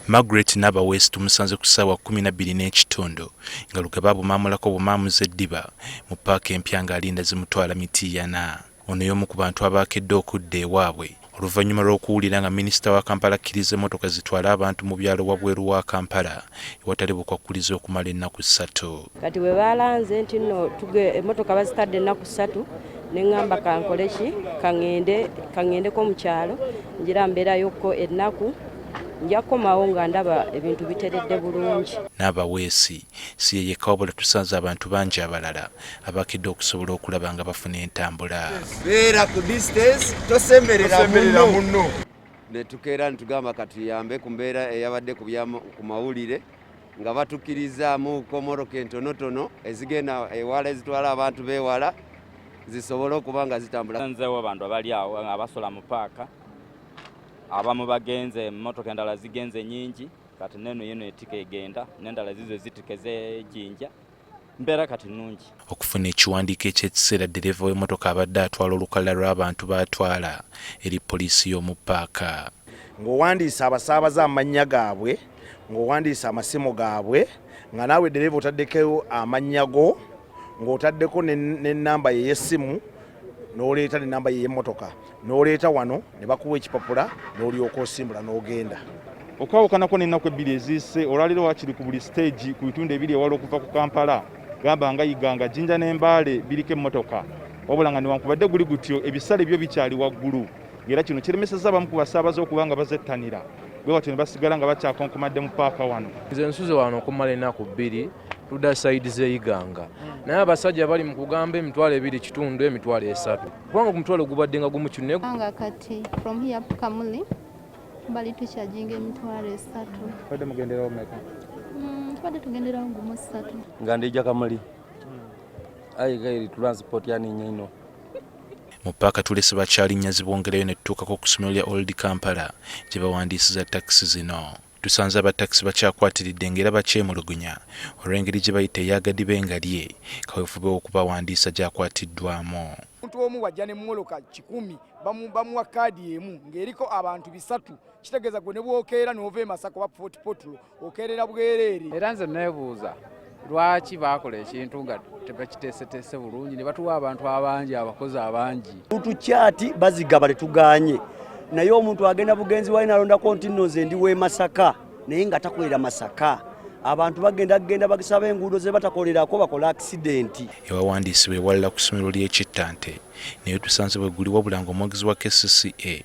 Margaret Nabaweesi tumusanze ku ssaawa kkumi na bbiri n'ekitundu nga Lugaba abumaamulako bumaamuzi eddiba mu ppaaka empya ng'alinda zimutwala Mityana. Ono y'omu ku bantu abaakedde okudda ewaabwe oluvannyuma lw'okuwulira nga minisita wa Kampala akkiriza emmotoka zitwale abantu mu byalo wabweru wa Kampala ewatali bukwakkulizo okumala ennaku ssatu. kati bwe balanze nti nno emmotoka bazitadde ennaku ssatu ne ŋŋamba kankole ki kaŋŋende kaŋŋendeko mu kyalo ngira mbeerayokko ennaku nja kukomawo nga ndaba ebintu biteredde bulungi n'abaweesi si ye yekka wabula tusanze abantu bangi abalala abakedde okusobola okulaba nga bafuna entambula beera ku distance tosemberera munno ne tukeera ne tugamba katuyambe ku mbeera eyabadde ku mawulire nga batukirizaamu komoroka entonotono ezigenda ewala ezitwala abantu bewala zisobole okuba nga zitambula nzewo abantu abali awo abasola mu paaka abamu bagenze emotoka endala zigenze nyingi kati neno yino etika egenda nendala zizo zitika ezejinja mbeera kati nnungi okufuna ekiwandiiko eky'ekiseera ddereeva w'emmotoka abadde atwala olukalala lw'abantu b'atwala eri poliisi y'omu paaka ng'owandiisa abasaabaza amannya gaabwe ng'owandiisa amasimu gaabwe nga naawe ddereeva otaddeko amannya go ng'otaddeko n'ennamba ye y'essimu n'oleeta nenamba yeyemotoka n'oleeta wano ne bakuwa ekipapula n'olyoka osimbula n'ogenda okwawukanako n'ennaku ebbiri eziise olwaliro wakiri ku buli siteegi ku bitundu ebiri ewala okuva ku kampala gamba nga iganga jinja n'embaale biriko emmotoka wabula nga newankubadde guli gutyo ebisale byo bikyali waggulu ng'era kino kiremeseza abamu ku basaabaze okuba nga bazettanira bwe batyo ne basigala nga bakyakonkomadde mu paaka wano nze nsuze wano okumala ennaku bbiri tuda saidi zeiganga naye abasajja bali mu kugamba emitwalo ebiri kitundu emitwalo esatu kubanga ku mutwalo gubadde nga gumu kinne nga kati from here kamuli bali tukyajinga emitwalo esatu badde mugenderawo meka mm, badde tugenderawo gumu satu nga ndija kamuli hmm. ayi gairi transport yani nyaino mu paaka tulese bakyalinnya zibwongerayo ne tutuukako ku ssomero lya old kampala gye bawandiisiza takisi zino Tusanze aba takisi bakyakwatiridde ng'era bakyemulugunya olw'engeri gye bayita eya gadibe nga lye kaweefube w'okubawandiisa gy'akwatiddwaamu. Omuntu omu bw'ajja ne mmoloka kikumi bamuwa kaadi emu ng'eriko abantu bisatu kitegeeza gwe ne bw'okeera n'ova e Masaka oba Fort Portal okeerera bwereere. Era nze neebuuza lwaki bakola ekintu nga tebakiteeseteese bulungi ne batuwa abantu abangi abakozi abangi tutukyati bazigaba tetuganye naye omuntu agenda bugenzi wali nalondako nti nno nze ndi w'e masaka naye nga takolera masaka abantu bagenda kugenda bagisaba enguudo ze batakolerako bakola akisidenti ewawandiisibwa ewalala ku ssomero ly'ekittante naye tusanze bwe guli wabula ng'omwogezi wa kcca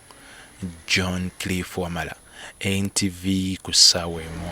John Cliff Wamala, NTV, ku ssaawa emu.